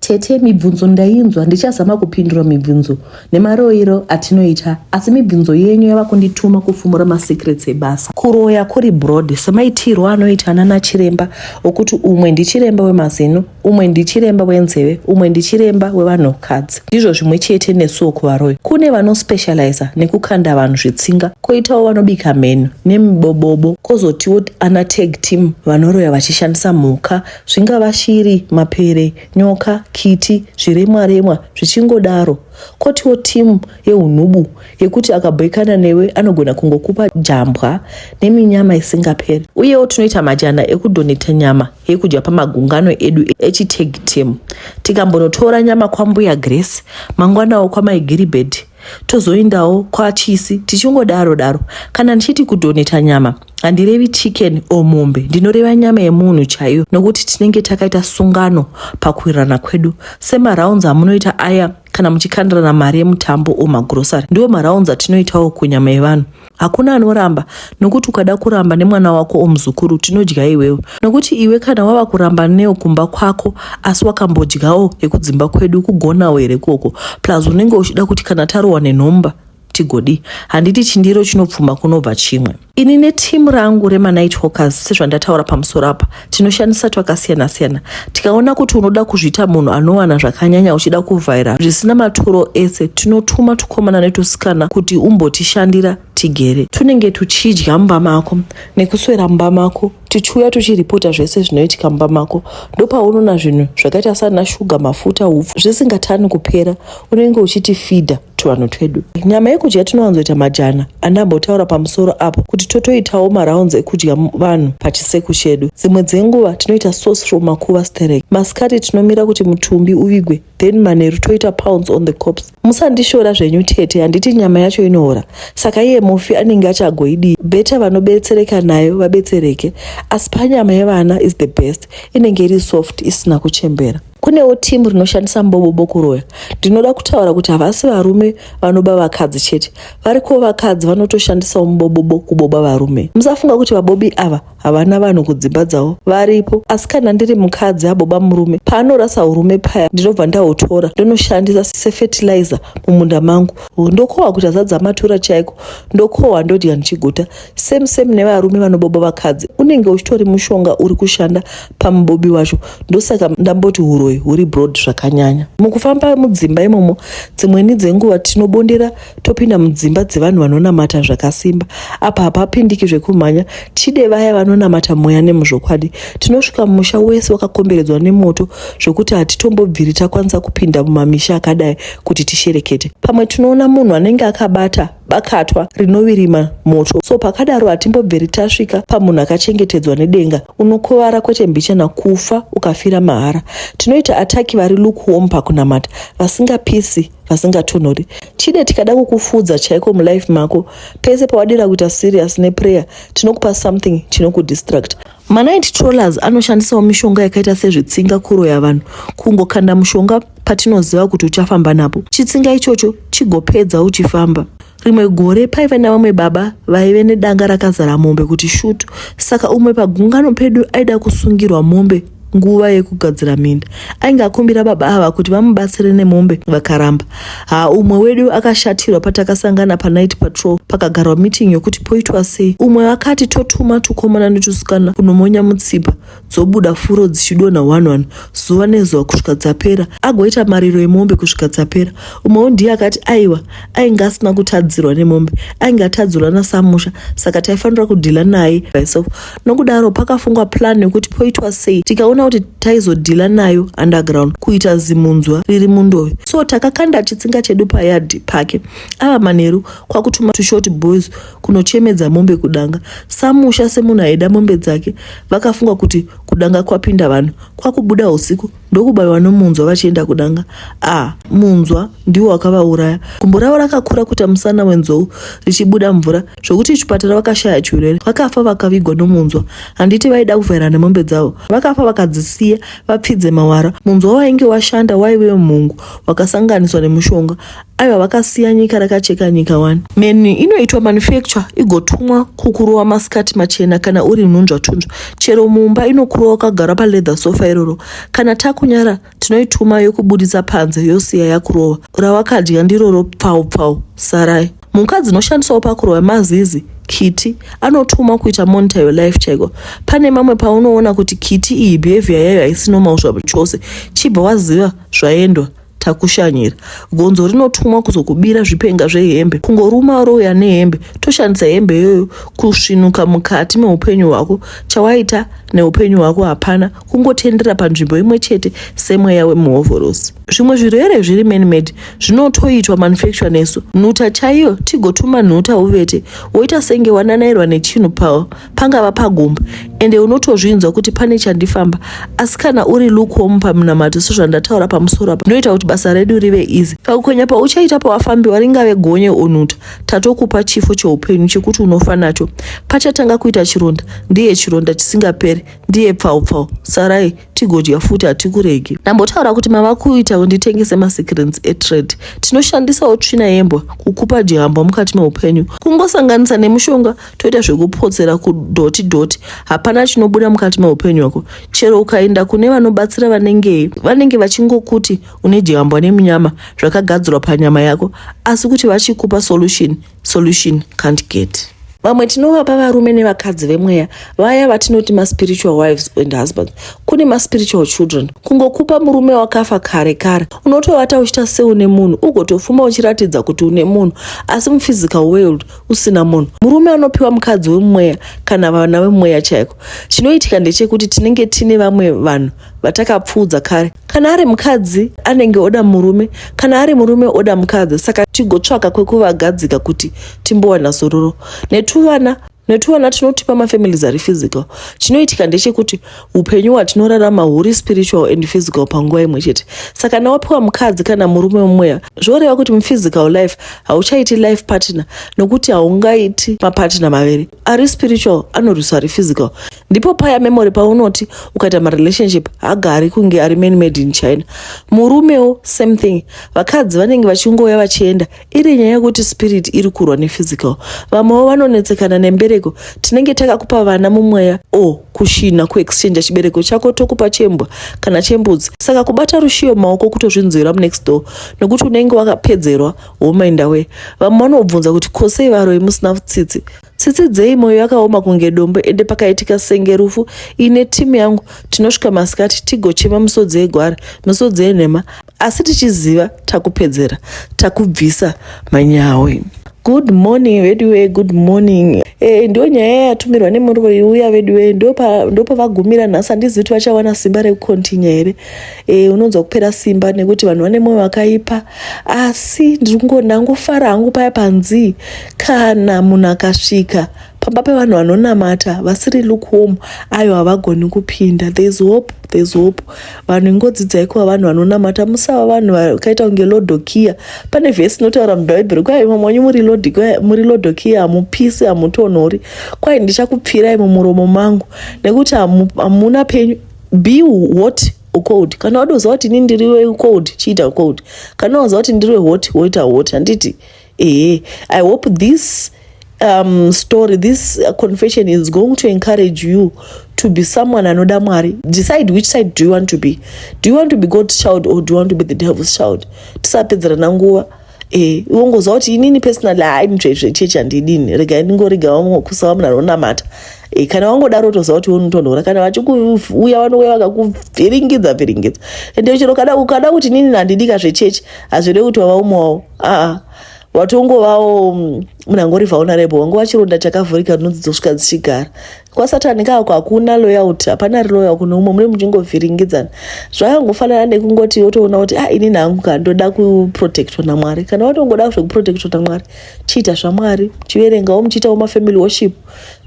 Tete, mibvunzo ndainzwa ndichazama kupindura mibvunzo nemaroiro atinoita asi mibvunzo yenyu yava kundituma kufumura masecrets ebasa. Kuroya kuri broad semaitirwo anoita anana chiremba okuti umwe ndichiremba wemazino, umwe ndichiremba wenzeve, umwe ndichiremba wevanhukadzi. Ndizvo zvimwe chete nesuwo kuvaroyi. Kune vanospecializa nekukanda vanhu zvitsinga, koitawo vanobika mheno nemibobobo, kozotiwo ana tag team vanoroya vachishandisa mhuka Zvingava shiri, mapere, nyoka, kiti, zviremwa remwa zvichingodaro. Kotiwo timu yehunhubu yekuti akabhoikana newe anogona kungokupa jambwa neminyama isingaperi. Uyewo tinoita majana ekudoneta nyama yekudya pamagungano edu echitag team. Tikambonotora nyama kwambuya Grace, mangwanawo kwamai Gilbert tozoindawo kwachisi tichingodaro daro. Kana ndichiti kudoneta nyama handirevi chicken o mombe ndinoreva nyama yemunhu chaiyo nokuti tinenge takaita sungano pakuwirirana kwedu semaraunds amunoita aya kana muchikandirana mari yemutambo o magrosary ndiwo maraunds atinoitawo kunyama yevanhu hakuna anoramba nokuti ukada kuramba nemwana wako omuzukuru tinodya iwewo nokuti iwe kana wava kuramba neo kumba kwako asi wakambodyawo yekudzimba kwedu kugonawo here koko plus unenge uchida kuti kana tarohwa nenhomba tigodii handiti chindiro chinopfuma kunobva chimwe ini netimu rangu remanight hawkers sezvandataura pamusoro apa tinoshandisa twakasiyana-siyana tikaona kuti unoda kuzviita munhu anowana zvakanyanya uchida kuvhaira zvisina maturo ese tinotuma tukomana netusikana kuti umbotishandira tigere tunenge tuchidya mumba mako nekuswera mumba mako tichiuya tuchiripota zvese zvinoitika mumba mako ndopaunoona zvinhu zvakaita sana shuga mafuta upfu zvisingatani kupera unenge uchiti fidha tuvanhu twedu nyama yekudya tinowanzoita majana andambotaura pamusoro apo kuti totoitawo marounds ekudya vanhu pachiseku chedu dzimwe dzenguva tinoita sauce from makuva sterek masikati tinomira kuti mutumbi uvigwe then manheru toita pounds on the cops musandishora zvenyu tete handiti nyama yacho inoora saka iye mufi anenge achagoidii beta vanobetsereka nayo vabetsereke asi panyama yevana is the best inenge iri soft isina kuchembera kunewo timu rinoshandisa mbobobo kuroya ndinoda kutaura kuti havasi varume vanoba vakadzi chete variko vakadzi vanotoshandisawo mubobobo kuboba varume musafunga kuti vabobi ava havana vanhu kudzimba dzavo varipo asi kana ndiri mukadzi aboba murume paanorasa urume paya ndinobva ndahutora ndonoshandisa sefetilizer mumunda mangu ndokohwa kuti azadza matura chaiko ndokohwa ndodya ndichiguta same same nevarume vanoboba vakadzi unenge uchitori mushonga uri kushanda pamubobi wacho ndosaka ndamboti uroyi huri broad zvakanyanya mukufamba mudzimba imomo dzimweni dzenguva tinobondera topinda mudzimba dzevanhu vanonamata zvakasimba apa hapapindiki zvekumhanya tide vaya vanonamata mweya nemuzvokwadi tinosvika musha wese wakakomberedzwa nemoto zvokuti hatitombobviri takwanisa kupinda mumamisha akadai kuti tisherekete pamwe tinoona munhu anenge akabata bakatwa rinovirima moto so pakadaro hatimbobveri tasvika pamunhu akachengetedzwa nedenga unokuvara kwete mbichana kufa ukafira mahara tinoita ataki vari lukewarm pakunamata vasingapisi vasingatonhori chide tikada kukufudza chaiko mulife mako pese pawadira kuita serious neprayer tinokupa something chinokudistract manight trollers anoshandisawo mishonga yakaita sezvitsinga kuroya vanhu kungokanda mushonga patinoziva kuti uchafamba napo chitsinga ichocho chigopedza uchifamba Rimwe gore paive navamwe baba vaive nedanga rakazara mombe kuti shutu. Saka umwe pagungano pedu aida kusungirwa mombe nguva yekugadzira minda. Ainge akumbira baba ava kuti vamubatsire nemombe vakaramba. Ha, umwe wedu akashatirwa patakasangana panight patrol pakagarwa meeting yokuti poitwa sei. Umwe akati totuma tukomana netusikana kunomonya mutsipa. dzobuda furo dzichidonha one one zuva nezuva kusvika dzapera agoita mariro emombe kusvika dzapera umwewo ndiye akati aiwa ainge asina kutadzirwa nemombe ainge atadzirwa nasamusha saka taifanira kudhila naye myself nokudaro pakafungwa plan yekuti poitwa sei tikaona kuti taizodhila nayo underground kuita zimunzwa riri mundove so takakanda chitsinga chedu payadhi pake ava manheru kwakutuma tushort boys kunochemedza mombe kudanga samusha semunhu aida mombe dzake vakafunga kuti kudanga kwapinda vanhu kwakubuda usiku ndokubaiwa nomunzwa vachienda kudanga a ah, munzwa ndiwo wakavauraya gumbo ravo rakakura kuita musana wenzou richibuda mvura zvokuti chipatara vakashaya chiurere vakafa vakavigwa nomunzwa handiti vaida kuvhaira nemombe dzavo vakafa vakadzisiya vapfidze mawara munzwa wainge washanda waive mhungu wakasanganiswa nemushonga aiwa vakasiya nyika rakacheka nyika wani meni inoitwa manufacture igotumwa kukurova masikati machena kana uri nhunzvatunzva chero mumba inokurova ukagara paleather sofa iroro kana takunyara tinoituma yokubudisa panze yosiya yakurova rawakadya ndiroro pfau pfau sarai mhuka dzinoshandisawo pakurova mazizi kiti anotuma kuita monitor your life chaiko pane mamwe paunoona kuti kiti iyi behavior yayo haisi normal zvachose chibva waziva zvaendwa takushanyira gonzo rinotumwa kuzokubira zvipenga zvehembe kungoruma roya nehembe toshandisa hembe iyoyo kusvinuka mukati meupenyu hwako chawaita neupenyu hwako hapana kungotendera panzvimbo imwe chete semweya wemuhovhorosi zvimwe zvirwere zviri manmed zvinotoitwa manufacture nesu nhuta chaiyo tigotuma nhuta uvete woita senge wananairwa nechinhu pawo pangava pagomba ende unotozvinzwa kuti pane chandifamba asi kana uri lukewarm pamunamato sezvandataura pamusoro apa unoita kuti basa redu rive easy pakukonya pauchaita pawafambiwa ringave gonye onuta tatokupa chifo cheupenyu chekuti unofa nacho pachatanga kuita chironda ndiye chironda chisingaperi ndiye pfaupfau sarai tigodya futi hatikuregi ndambotaura kuti mava kuita unditengese masecrets etrade tinoshandisawo tsvina yembwa kukupa jihambwa mukati meupenyu kungosanganisa nemushonga toita zvekupotsera kudhoti dhoti hapana chinobuda mukati meupenyu wako chero ukaenda kune vanobatsira vanengei vanenge vachingokuti une jihambwa nemunyama zvakagadzirwa panyama yako asi kuti vachikupa solution solution can't get vamwe tinovapa varume nevakadzi vemweya vaya vatinoti maspiritual wives and husbands kune maspiritual children kungokupa murume wakafa kare kare unotovata uchita seune munhu ugotofuma uchiratidza kuti une munhu asi muphysical world usina munhu murume anopiwa mukadzi wemweya kana vana vemweya chaiko chinoitika ndechekuti tinenge tine vamwe vanhu vatakapfuudza kare kana ari mukadzi anenge oda murume kana ari murume oda mukadzi saka tigotsvaka kwekuvagadzika kuti timbowana zororo netuvana netuvana tinotipa mafamilies ari physical chinoitika ndechekuti upenyu hwatinorarama huri spiritual and physical panguva imwe chete saka nawapiwa mukadzi kana murume mumweya zvoreva kuti muphysical life hauchaiti life partner nokuti haungaiti mapartner maviri ari spiritual anorwiswa ari physical ndipo paya memory paunoti ukaita marelationship hagari kunge ari man made in china murumewo same thing vakadzi vanenge vachingouya vachienda iri nyaya yekuti spirit iri kurwa nephysical vamwewo vanonetsekana nembereko tinenge takakupa vana mumweya o kushina kuexchange chibereko chako tokupa chembwa kana chembudzi saka kubata rushiyo maoko kutozvinzwira munext door nekuti unenge wakapedzerwa womainda we vamwe vanobvunza kuti ko sei varoyi musina tsitsi tsitsi dzei moyo yakaoma kunge dombo ende pakaitika senge rufu ine timu yangu tinosvika masikati tigochema misodzi yegwara misodzi yenhema asi tichiziva takupedzera takubvisa manyawi good morning veduwe good morning e, ndiyo nyaya yatumirwa nemuroyi uya veduwe ndopavagumira nhasi handizivi kuti vachawana simba rekukontinya here e, unonzwa kupera simba nekuti vanhu vane mwoyo wakaipa asi ndiri kungonda ngofara hangu paya panzii kana munhu akasvika pamba pevanhu vanonamata vasiri lukewarm ayo havagoni kupinda thereis hope thereis hope vanhu ingodzidzai kuva vanhu vanonamata musava vanhu vakaita kunge lodokia pane vhesi inotaura mubhaibheri kwai mamwe wanyu muri lodokia hamupisi hamutonhori kwai ndichakupfirai mumuromo mangu nekuti hamuna penyu Be hot ucold kana wadoziva kuti ini ndiri wecold chiita cold kana waziva kuti ndiri wehot woita hot handiti ehe i hope this um, story this uh, confession is going to encourage you to be someone anoda mwari decide which side do you want to be do you want to be god's child or do you want to be the devil's child tisapedzerana nguva Eh, wongoziva kuti inini personally haimitsvetsve chechi handidini regai ndingorega kusava munhu anonamata eh, kana wangodaro toziva kuti unotonhora kana vachikuuya vanouya vakakuvhiringidza vhiringidza ende chero kada ukada kuti inini handidika zvechechi hazvirei kuti wava umwe wavo aa watongovawo mm, munhu angorivaona rebo wangu vachironda chakavhurika ndinodzidzosvika dzichigara kwasatani kako hakuna loyalty hapana reloyal kune umwe mune muchingovhiringidzana zvakangofanana nekungoti wotoona kuti ah inini hangu ka ndoda kuprotectwa namwari kana watongoda zvekuprotectwa namwari chiita zvamwari chiverengawo muchiitawo mafamily worship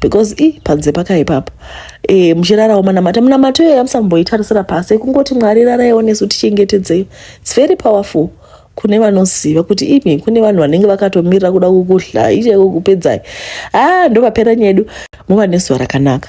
because i panze pakaipapa e, eh, muchirarawo manamata munamato iyoyo amusamboitarisira pasi ekungoti mwari raraiwo nesu tichengetedzei its very powerful kune vanoziva kuti imi kune vanhu vanenge vakatomirira kuda kukuhlai chaiko kupedzai haa ah, ndovapera nyedu muva nezuva rakanaka